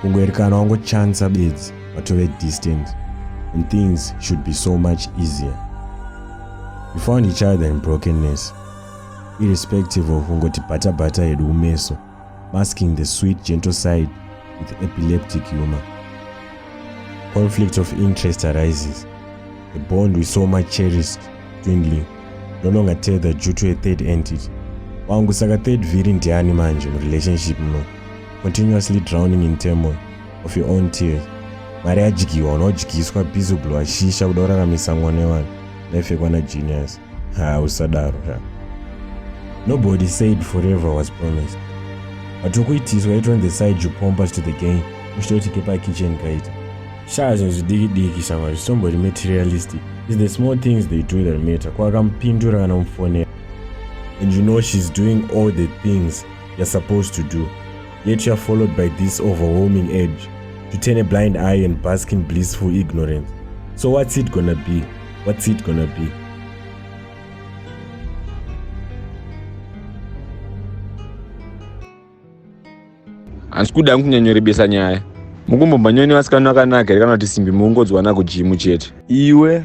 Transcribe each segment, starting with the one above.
kungoerekana wangochansa bedzi watove distant and things should be so much easier we found each other in brokenness irrespective of kungoti bhatabhata yedu kumeso masking the sweet gentle side with epileptic humor conflict of interest arises the bond we so much cherished dwindling no longer tethered due to a third entity wangu saka third vhiri ndiani manje murelationship muno continuously drowning in turmoil of your own tears mari yadyiwa unodyiswa busy kublowa shisha kuda kuraramisa mwana wevanhu life yekwana genius ha usadaro ha nobody said forever was promised but ukuitiswa it on the side you pompas to the game uchitoti kepakitchen kaita shaa zvinhu zvidiki diki shama zvitombori materialistic is the small things they do that matter kwakamupindura kana mufonera and you know she's doing all the things you're supposed to do, yet you're followed by this overwhelming urge to turn a blind eye and bask in blissful ignorance. So what's it gonna be? What's it gonna be? hansi kuda hangu kunyanyorebesa nyaya mukumbomba nyoni vasikana vakanaka here kana kuti simbi muungodzwana kujimu chete iwe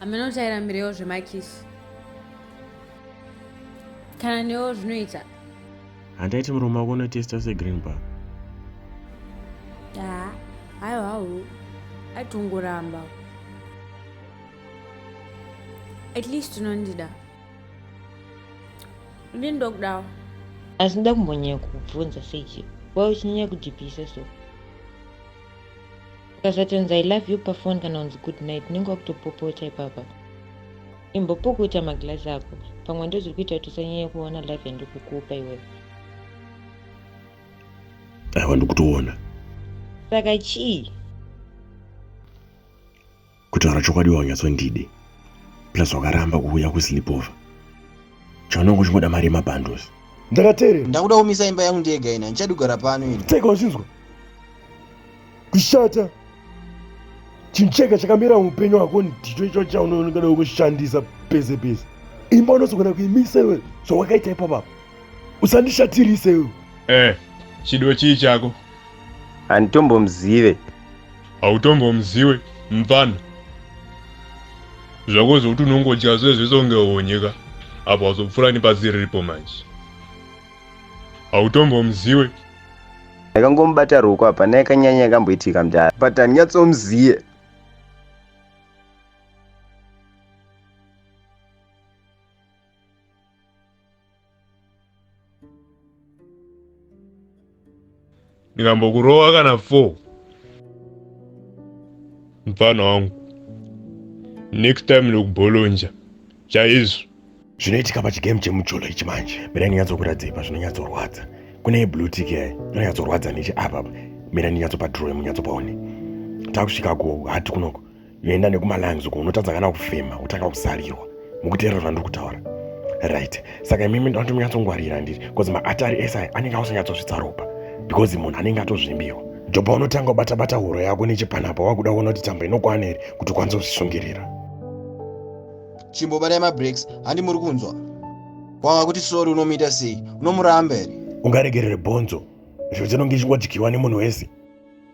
hameno kuti airambirewo zvemakisi kana newo zvinoita handaiti murume wako unotesta segreen bar haa hayo hawo aitongoramba at least unondida ndini ndokudawo asi ndoda kumbonyanya kukubvunza sechi wauchinyanya kujipisa so Ukazotonzi I love you pafon kana kunzi good night unenge wakutopopota ipapa. Imbopukuta maglass ako pamwe ndozviri kuita kuti usanyanye kuona love yandiri kukupa iwewe. Aiwa ndikutoona. Saka chii? kutaura chokwadi waunyatsondide plus wakaramba kuuya kusleepover chaunenge uchingoda mari yemabundles ndakateerera ndakuda kumisa imba yangu ndiyega ina ndichadi kugara pano ini tega uchinzwa kushata chinhu chega chakamira muupenyu hwako ndicho icho chaunoonekana wekushandisa pese pese imba unozogona kuimisa iwe zvawakaita ipapapa usandishatirise iwe eh chido chii chako handitombomuzive hautombomuziwe mfana zvako zvokuti unongodya zve zvese unge honyeka apo wazopfura nepasi riripo manje hautombomuziwe ndakangomubata ruoko apa naye kanyanya yakamboitika mdara but handinyatsomuziye ndikambokurowa kana four mfana wangu next time ndokubholonja chaizvo zvinoitika pachigame chemujolo ichi manje mira ndinyatsokuradzei pazvinonyatsorwadza kune blue tik yayo inonyatsorwadza neche apapa mira ndinyatsopa drowe munyatsopaone takusvika kuhati kunoko yoenda nekumalungs uko unotadza kana kufema kutanga kuzarirwa mukuteerera zvandiri kutaura right saka imimi ndinoda timunyatsongwarira ndiri bcause maatari ese aya anenge ausanyatsosvitsa ropa because munhu anenge atozvimbirwa jopa unotanga ubata bata huro yako nechipanapa wakuda kuona kuti tambo inokwana here kuti ukwanise kuzvisungirira chimbobatai mabreaks handi muri kunzwa wava kuti sori unomuita sei unomuramba here ungaregerere bhonzo zvinhu dzinonge ichingodyirwa nemunhu wese